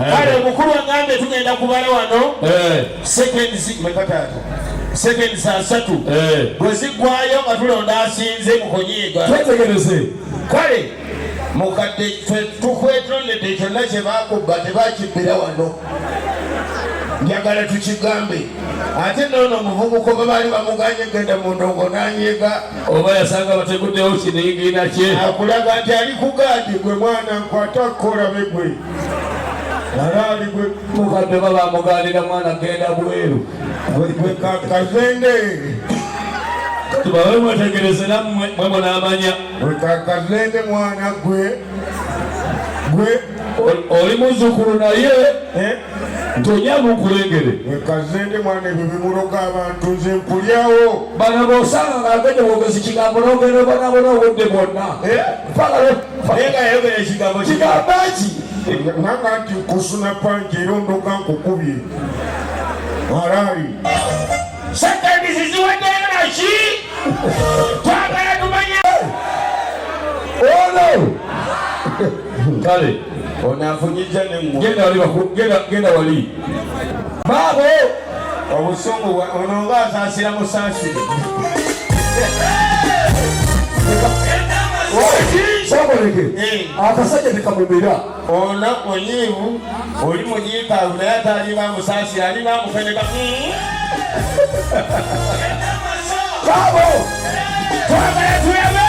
Eh. kale omukulu agambe tugenda kubala wano eh. seconds asatu eh. bwe ziggwayo nga tulonda asinze mukunyiiga twetegereze kale mukadde tukwetondedde kyonna kye bakubba tebakibbira wano njagala tukigambe ate noono omuvubuka oba baali bamuganye genda mu ndongo nanyiiga oba yasanga bateguddewo kiningina kye akulaga nti ali ku gaadi gwe mwana nkwata kukolabe gwe alaali gwe mukadde oba bamugaanira mwana genda bweru kazende tubawe mwetegereze nammwe mwe munaamanya kazende mwana gwe gwe oli muzukulu naye eh? nti ojanga okulengere wekaze ndi mwana ebyo bimuloga abantu nze nkulyawo bano bosanga nga agende bwogezi kigambo nogenda obonabona obudde bwonna eh? naye nga yayogera ekigambo kigambo ki nanga nti kusuna panji era ondoga nkukubye halaali satani ziziwaddeyo naki twagala tumanye ono kale onafunyija negenda wali genda wali baabo obusungu ono nga asaasira musaasire kyakoleke eh. akasajja tekamumira ono onyiivu oli mujiikaavu naye ataliba musaasire alina amufeneka baabo twagala tuyabe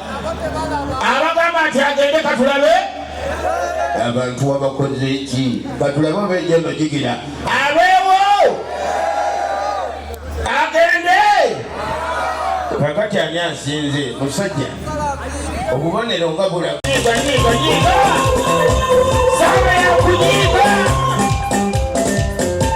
abagamba nti agende katulabe abantu wabakoze ki katulabe obeja emajigira abeewo agende kakati ani asinze musajja obubonero nga bulaga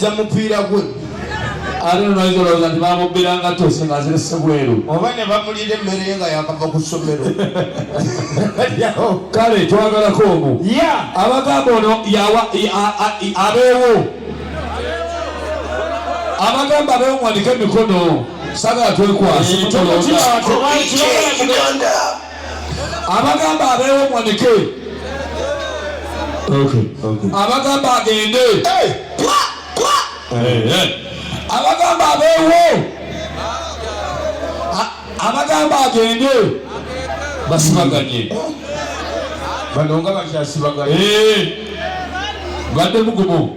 za mupiira gwe ate nonoyinza olowooza nti bamubbira nga tose nga azirese bweru oba ne bamulira emmere nga yakava ku ssomero kale twagalako omu abagamba ono abeewo abagamba abeewo mwandike emikono sagala twekwasa abagamba abeewo mwanike abagamba agende abagamba abeewo abagamba agende basibaganye bano nga bakyasibaganye eh. badde mugumu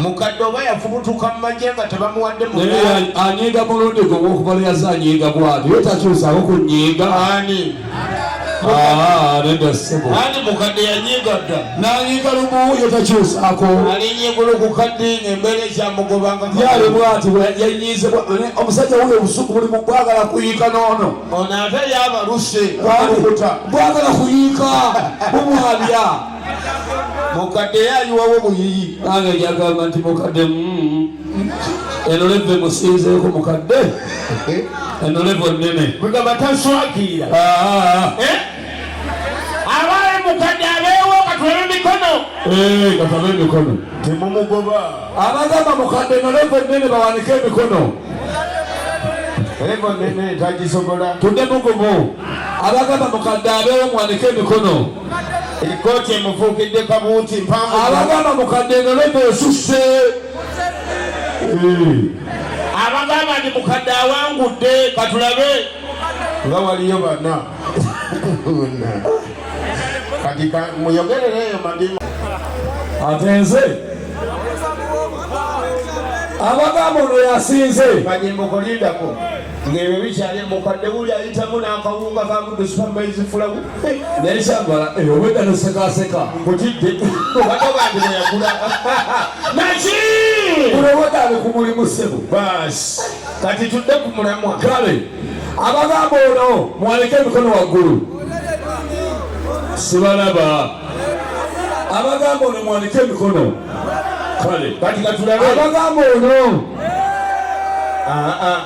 mukadde oba yafubutuka mu magye nga tebamuwadde anyiiga mulundi gwe gwokuba lyaze anyiiga bwati ye takyusaako ku nyiiga ani ah, nedda ssebo ani mukadde yanyiiga dda nanyiiga lumu ye takyusaako alinyigulu ku kadde ngaembeera ekyamugobanga yali bwati yanyiize omusajja wuyo obusuku buli mu bwagala kuyiika noono ono ate yabaluse bwagala kuyiika bumwabya mukadde yayiwawo buyiyi nange jagamba nti mukadde mm, enoleve musinzeeko mukadde enolevo nene mugamba taswagira ah. eh? abaali mukadde abeewo katulabe emikono eh, katulabe emikono temumugoba abagamba mukadde enolevo nene bawanike emikono evo nene tagisobola tudde mugumu abagamba mukadde abeewo muwanike emikono ekkooti emufuukidde kabuuti mpanvu abagamba mukadde engaloto esusse abagamba ndi mukadde awangudde katulabe nga waliyo bana kati muyogerereeyo madimu ate nze abagamba ono yasinze banyembokolindako ng'ebyo bikyali mukadde wuli ayitamu n'akawunga kamudu supamaizi fulawu naye kyagala eh, obwedda nosekaseka kutidde obadde bantu beyagula naki kulowodale ku mulimu sebo basi kati tudde ku mulamwa kale abagamba ono mwaleke emikono waggulu sibalaba abagamba ono mwaleke emikono kale kati katulabe abagamba ono ah, ah.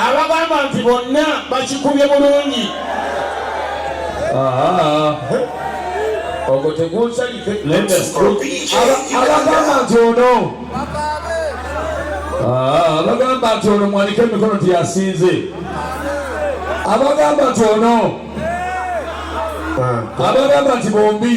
abagamba nti bonna bakikubye bulungi ogwo tegunsalike abagamba nti ono abagamba nti ono mwanike emikono nti yasinze abagamba nti ono abagamba nti bombi